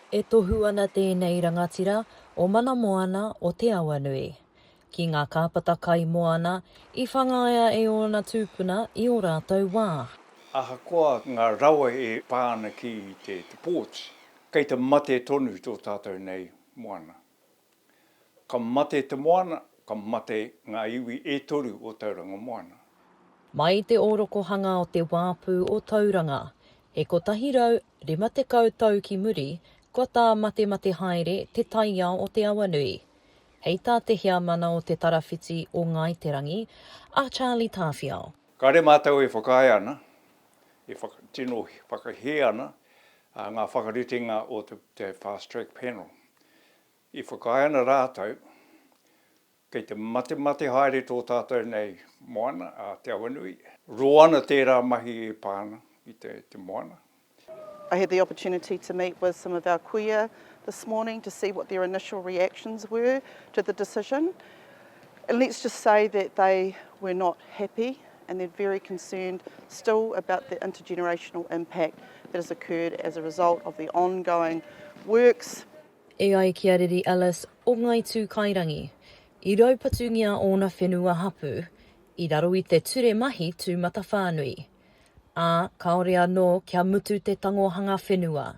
E tohu ana tēnei rangatira o Mana Moana o Te Awanui ki ngā kāpata kai moana i whangaia e ōna tūpuna i ō rātou wā. Ahakoa ngā rawa e pā ana ki te ports, kei te mate tonu tō tātou nei moana. Ka mate te moana, ka mate ngā iwi e toru o Tauranga Moana. Mai i te ōrokohanga o te wāpu o Tauranga, he 150 tau ki muri, kua tāmatemate haere te taiao o te awa nui. Hei tā te heamana o Te Tarawhiti o Ngāi Te Rangi, a Charlie Tāwhiao. Kāre mātou e whakaae ana, e tino whakahē ana ngā whakaritenga o te Fast Track Panel. I whakaae ana rātou, kei te matemate haere tō tātou nei moana a Te Awanui. Roa ana tērā mahi e pā ana ki te moana. I had the opportunity to meet with some of our kuia this morning to see what their initial reactions were to the decision. And let's just say that they were not happy and they're very concerned still about the intergenerational impact that has occurred as a result of the ongoing works. E ai ki a Riri Ellis o Ngāi Tūkairangi, i raupatungia ōna whenua hapū i raro i te ture mahi tūmatawhānui, ā, kāore anō kia mutu te tangohanga whenua,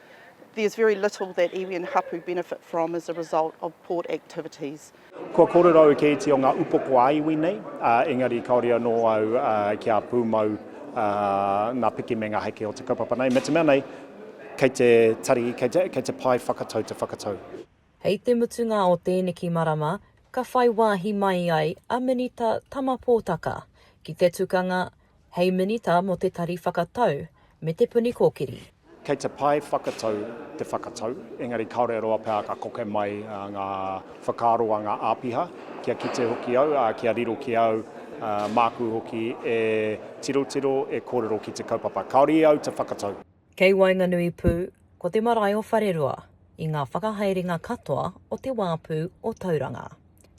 There's very little that iwi and hapu benefit from as a result of port activities. Kua kōrerau kētia ngā upoko ā-iwi nei, ā, engari kāore anō au kia pūmau ngā piki me ngā heke o te kaupapa nei, me te mea nei, kei te tari, kei te, kei te pae whakatau te whakatau. Hei te mutunga o tēneki marama, ka whai wāhi mai ai a Minita Tama Pōtaka ki te tukanga hei Minita mō te Tari Whakatau me Te Puni Kōkiri. Kei te pae whakatau te whakatau, engari kāore roa pea ka koke mai ngā whakaaro a ngā āpiha, kia kite hoki au, ā, kia riro ki a au, māku hoki e tirotiro, e kōrero ki te kaupapa. Kāore i au te whakatau. Kei waenganui pū, ko te marae o Wharerua i ngā whakahaerenga katoa o te wāpu o Tauranga.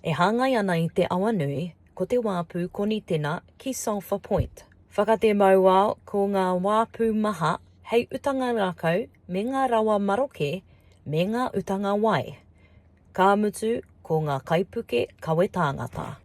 E hāngai ana i te awa nui, ko te wāpu Konitena ki Sulphur Point. Whakatē mauao ko ngā wāpu maha hei utanga rākau me ngā rawa maroke me ngā utanga wai. Ka mutu ko ngā kaipuke kawe tāngata.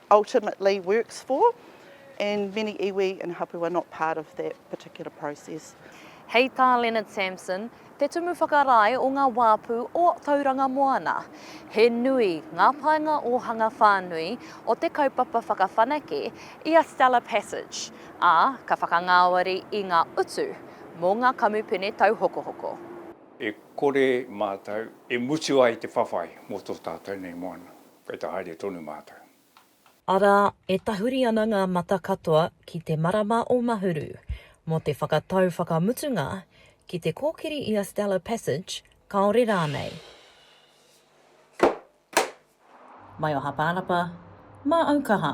ultimately works for and many iwi and hapu are not part of that particular process. Hei tā Leonard Samson, te tumu whakarae o ngā wāpu o Tauranga Moana, he nui ngā painga ōhanga whānui o te kaupapa whakawhanake i a Stella Passage, ā, ka whakangāwari i ngā utu mō ngā kamupene tauhokohoko. E kore mātou e mutu ai te whawhai mō tō tātou nei moana. Kei te haere tonu mātou. Arā, e tahuri ana ngā mata katoa ki te marama o Mahuru, mō te whakatau whakamutunga ki te kōkiri i a Stella Passage, kāore rānei. Mai o Hapānapa, mā Aukaha.